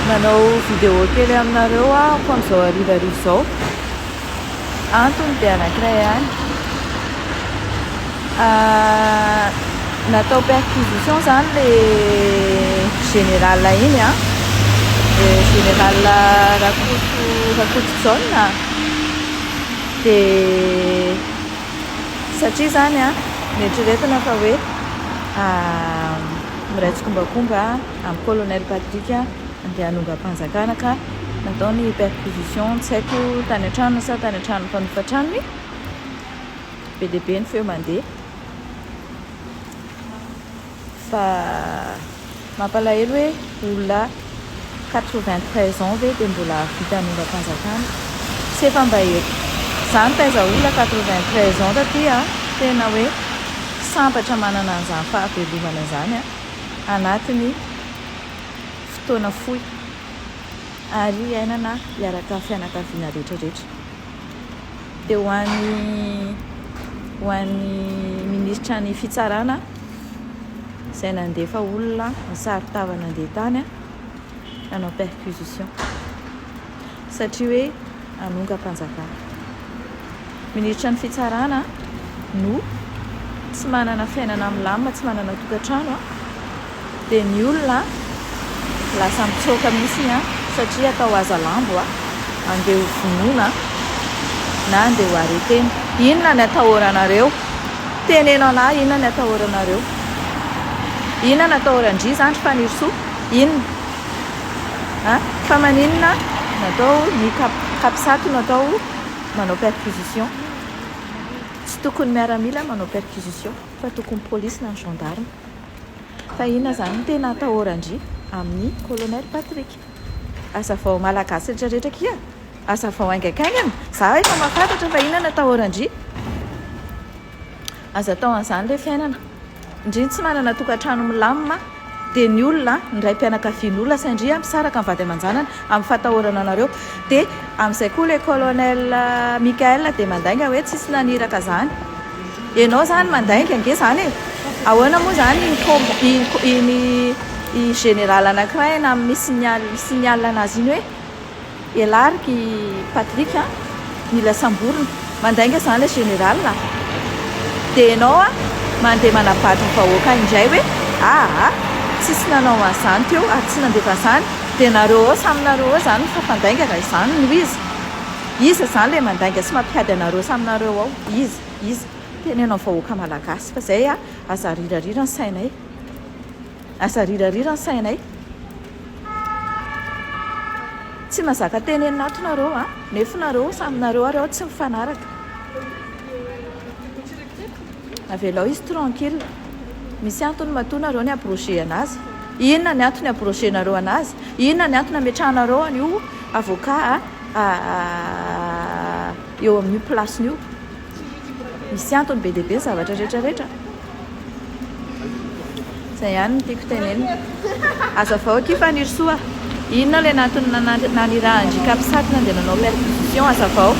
Nanao vidéo kely aminareo aho amin'izao harivariva izao. Antony dia anankiray ihany. Natao perquisition izany ilay général iny an. Général Rakoto Rakoto Jaona. Dia satria izany an, noeritreretina fa hoe. Miray tsikombakomba amin'i Colonel Patrick andeha hanongam-panjakana ka natao ny perquisition tsy haiko tany an-tranony sa tany an-tranon'ny mpanofa tranony. Be dia be ny feo mandeha fa mampalahelo hoe olona Quatre-vingt-treize ans ve dia mbola hahavita hanombam-panjakana? Tsy efa mba eto zany taiza ola quatre-vingt-treize ans taty a! Tena hoe sambatra manana an'izany fahavelomana izany a! Anatin'ny fotoana fohy ary iainana hiaraka fianakaviana rehetra rehetra. Dia ho an'ny ho an'ny minisitra ny fitsarana. izay nandefa olona nisaro-tava nandeha tany nanao perquisition satria hoe hanongam-panjakana. Minisitra ny fitsarana no tsy manana fiainana milamina, tsy manana tokantrano dia ny olona lasa mitsoaka mihitsy satria atao aza lambo andeha ho vonoina na andeha ho arretena. Inona ny atahoranareo? Teneno anah inona ny atahoranareo? Inona no atahoran-dry zandry Fanirisoa? Inona? An? Fa maninona no atao ny cap, capsat no atao manao perquisition? Tsy tokony miaramila manao perquisition fa tokony polisy na ny gendarme. Fa inona zany ny tena atahoran-dry amin'ny colonel Patrick? Azavao Malagasy rehetra rehetra akia a! Azavao haingaikaingana! Za efa mahafantatra fa inona no atahoran-dry. Aza atao an'izany ilay fiainana. Ndry ny tsy manana tokantrano milamina dia ny olona a, ny raim-pianakavian'olona sain-dry a misaraka ny vady aman-janany amin'ny fahatahorana anareo. Dia amin'izay koa ilay Colonel Mickaël dia mandainga hoe tsisy naniraka izany. Ianao izany mandainga ange izany e! Ahoana moa izany iny combo iny i général anankiray any amin'ny signal signal anazy iny hoe Elark i Patrick an! Mila samborina! Mandainga izany ilay général a! Dia ianao an! Mandeha manabatra vahoaka indray hoe aa! Tsisy nanao an'izany teo ary tsy nandefa an'izany dia nareo ao samy nareo ao izany mifafandainga raha izany no izy! Iza izany ilay mandainga sy mampihady anareo samy nareo ao? Iza? Iza? Teneno amin'ny vahoaka malagasy fa izay a! Aza arirarira ny sainay. Aza arirarira ny sainay. Tsy mazaka tenenina ato nareo a! Nefo nareo samy nareo ary ao tsy mifanaraka. Avelao izy tranquille. Misy antony matoa nareo ny abroger anazy. Inona ny antony abroger nareo anazy? Inona ny antony ametrahanareo an'io avocat a? eo amin'io place-ny io. Misy antony be dia be ny zavatra rehetra rehetra. Izay ihany no tiako tenenina. Hazavao akia Fanirisoa, inona ilay nantony nanirahan-dry Capsat nandeha nanao perquisition, hazavao.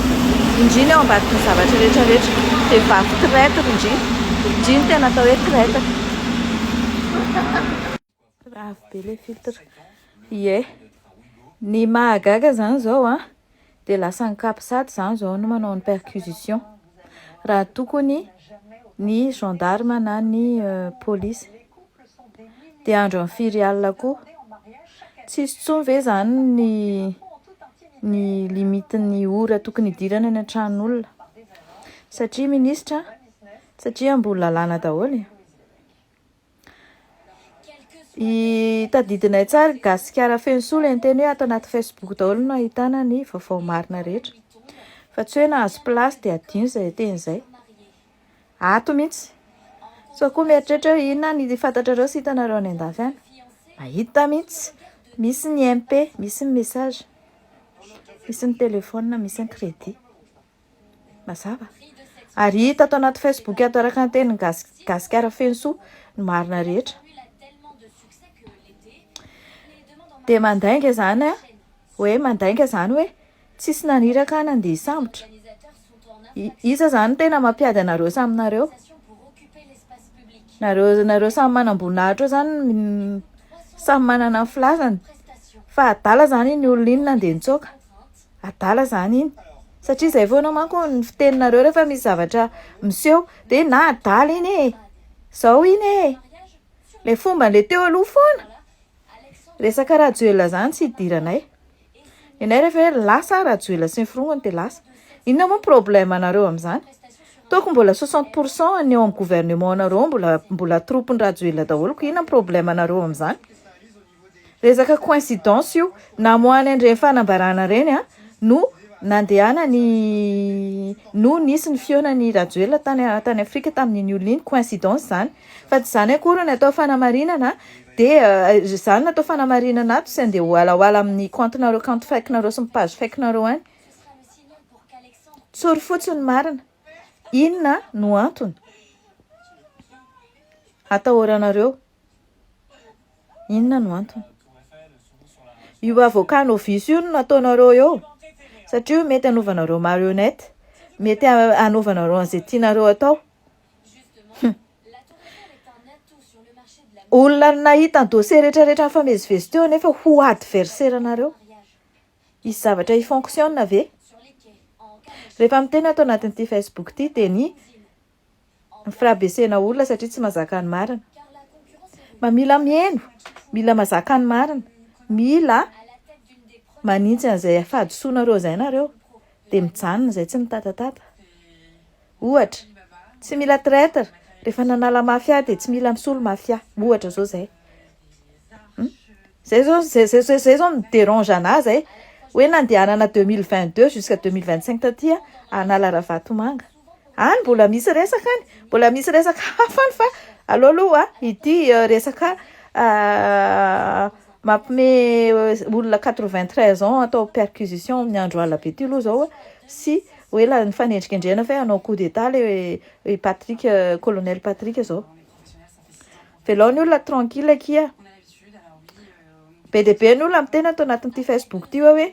Indry ny ao ambadiky ny zavatra rehetra rehetra. Vehivavy traitre indry. Indry ny tena atao hoe traitre. Avo be le filtre. Ie. Ny mahagaga zany zao a, dia lasa ny capsat zany zao no manao ny perquisition. Raha tokony ny gendarme na ny polisy. Dia andro am firy alina koa. Tsisy tsony ve zany ny ny limite ny ora tokony hidirana ny tran'olona. Satria ministra, satria amboly lalàna daholo e. Tadidinay tsara i Gasikara feno soa ilay niteny hoe ato anaty Facebook daholo no ahitana ny vaovao marina rehetra fa tsy hoe nahazo place dia adino izay teny izay. Ato mihitsy. Sao koa mieritreritra hoe inona ary ny fantatrareo sy hitanareo any an-dafy any. Mahita mihitsy. Misy ny MP, misy ny message, misy ny téléphone, misy ny crédit. Mazava. Ary hita ato anaty Facebook ato araka ny tenin'i Gasy Gasikara feno soa ny marina rehetra. Dia mandainga izany a, hoe mandainga izany hoe tsisy naniraka ahy nandeha hisambotra. Iza izany tena mampiady anareo samy nareo? Nareo nareo samy manam-boninahitra eo izany samy manana ny filazany fa adala izany iny olona iny nandeha nitsoaka. Adala zany iny satria zay foana manko ny fiteninareo rehefa misy zavatra miseho de na adala iny e, zao iny e, le fomban'le teo aloha foana, resaka Rajoelina zany tsy idiranay, nenay rehefa hoe lasa aho Rajoelina sy ny firongony de lasa, inona moa ny problème anareo amin'izany? toa mbola soixante pour cent ny eo amin'ny gouvernement nareo mbola mbola troupes-n'i Rajoelina daholo, koa inona ny problème anareo amin'izany? Resaka coincidence io, namoahany an'ireny fanambarana ireny no nandehanany no nisy ny fihaonan'i Rajoelina tany tany Afrika tamin'iny olona iny, coincidence izany fa tsy izany akory no atao fanamarinana dia izany no atao fanamarinana ato, tsy handeha hoalahoala amin'ny kaontinareo, kaonty fake-nareo sy ny page fake-nareo any, tsory fotsiny ny marina, inona no antony hatahoranareo? Inona no antony? Io avocat novice io no nataonareo eo satria io mety hanaovanareo marionnette, mety hanaovanareo an'izay tianareo atao. Hum. Olona nahita ny dossier rehetrarehetra nifamezivezy teo nefa ho adversaire anareo. Hisy zavatra hi-fonctionne ve? Rehefa miteny ato anatin'ity Facebook ity dia ny Firabesena olona satria tsy mazaka ny marina. Mba mila mihaino, mila mazaka ny marina, mila manintsy an'izay fahadisoanareo izay nareo dia mijanona izay tsy mitatatata. Ohatra, tsy mila traitre, rehefa nanala mafia dia tsy mila misolo mafia. Ohatra izao izay. Izay izao izay izay izay izao no mi-derange an'ahy izay. Hoe nandehanana deux mille vingt deux jusqu'à deux mille vingt cinq taty hanala Ravatomanga. Any mbola misy resaka any, mbola misy resaka hafa any fa aleo aloha ity resaka mampme olona quatre vingt treize ans atao perquisition amin'ny andro alina be ity aloha zao sy ho ela ny fanendrikendrehana fa hoe hanao coup d'etat le Patrick, colonel Patrick zao. Velao ny olona tranquille akia. Be dia be ny olona miteny ato anatin'ity Facebook ity hoe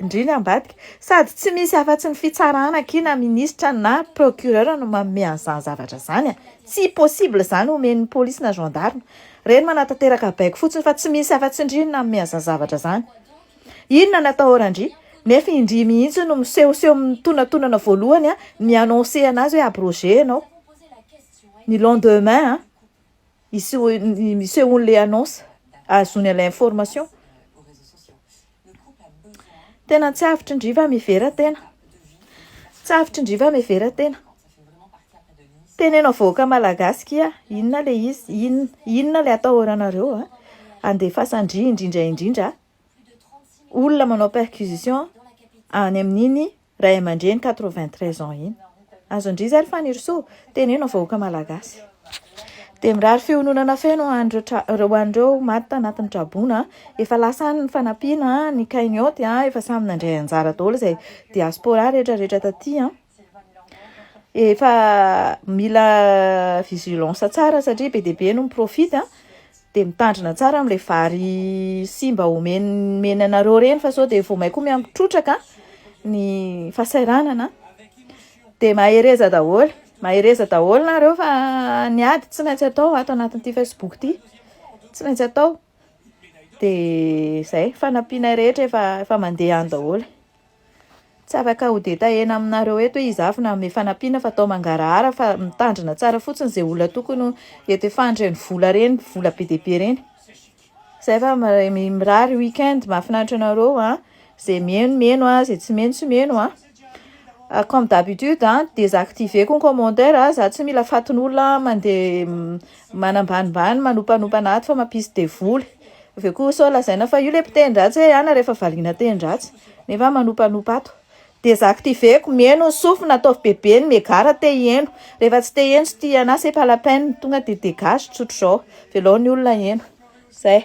indrindra ambadika. Sady tsy misy afa-tsy ny fitsarana akia na ministra na procureur no manome an'izany zavatra izany. Tsy possible izany omen'ny polisy na gendarme. Ireny manatanteraka baiko fotsiny fa tsy misy afa-tsy ndry no nanome an'izany zavatra izany. Inona no atahorandry? Nefa indry mihitsy no misehoseho mitonantonana voalohany mi-annoncer an'azy hoe abroger ianao. Ny lendemain an, misy misehony le annonce ahazoany an'ilay information. Tena tsy avotry ny riva mihevera tena. Tsy avotry ny riva mihevera tena. Teneno vahoaka malagasy kia inona le izy, inona, inona le atahoranareo an, andefasan-dry indrindra indrindra olona manao perquisition any amin'iny Ray aman-dreny quatre-vingt-treize ans iny. Azon-dry zary Fanirisoa? Teneno ny vahoaka malagasy. Dia mirary fihononana feno ho an'ireo ho an'ireo maty tanatin'ny traboina. Efa lasa any ny fanampiana, ny cagnotte efa samy nandray anjara daholo izay diaspora rehetra rehetra taty an! Efa mila vigilance tsara satria be dia be no mi-profite an! Dia mitandrina tsara amin'ilay vary simba omeny anareo ireny fa sao dia vao may koa mihambo trotraka ny fahasahiranana an! Dia mahereza daholo, mahereza daholo nareo fa ny ady tsy maintsy atao ato anatin'ity facebook ity, tsy maintsy atao, dia izay, fanampianay rehetra efa mandeha any daholo. Tsy afaka ho detahena aminareo eto hoe iza avy nanome fanampiana fa atao mangarahara fa mitandrina tsara fotsiny izay olona tokony ho hetefany ireny vola ireny, vola be dia be ireny. Izay fa mirary week-end mahafinaritra anareo a, izay miheno miheno a, izay tsy miheno tsy miheno a, comme d'habitude a desactiver-ko ny commentaire a, za tsy mila fatin'olona mandeha manambanimbany manompanopana ato fa mampisy devoly. Aveo koa sao lazaina fa io le mpiteny ratsy hoe ana rehefa valiana teny ratsy. Nefa manompanopa ato. Desactiveko, mieno ny sofina, ataovy bebe ny megara te hieno. Rehefa tsy te hieno, tsy tia anah, c'est pas la peine. Tonga dia dégage, tsotr'izao. Velao ny olona hieno. Zay.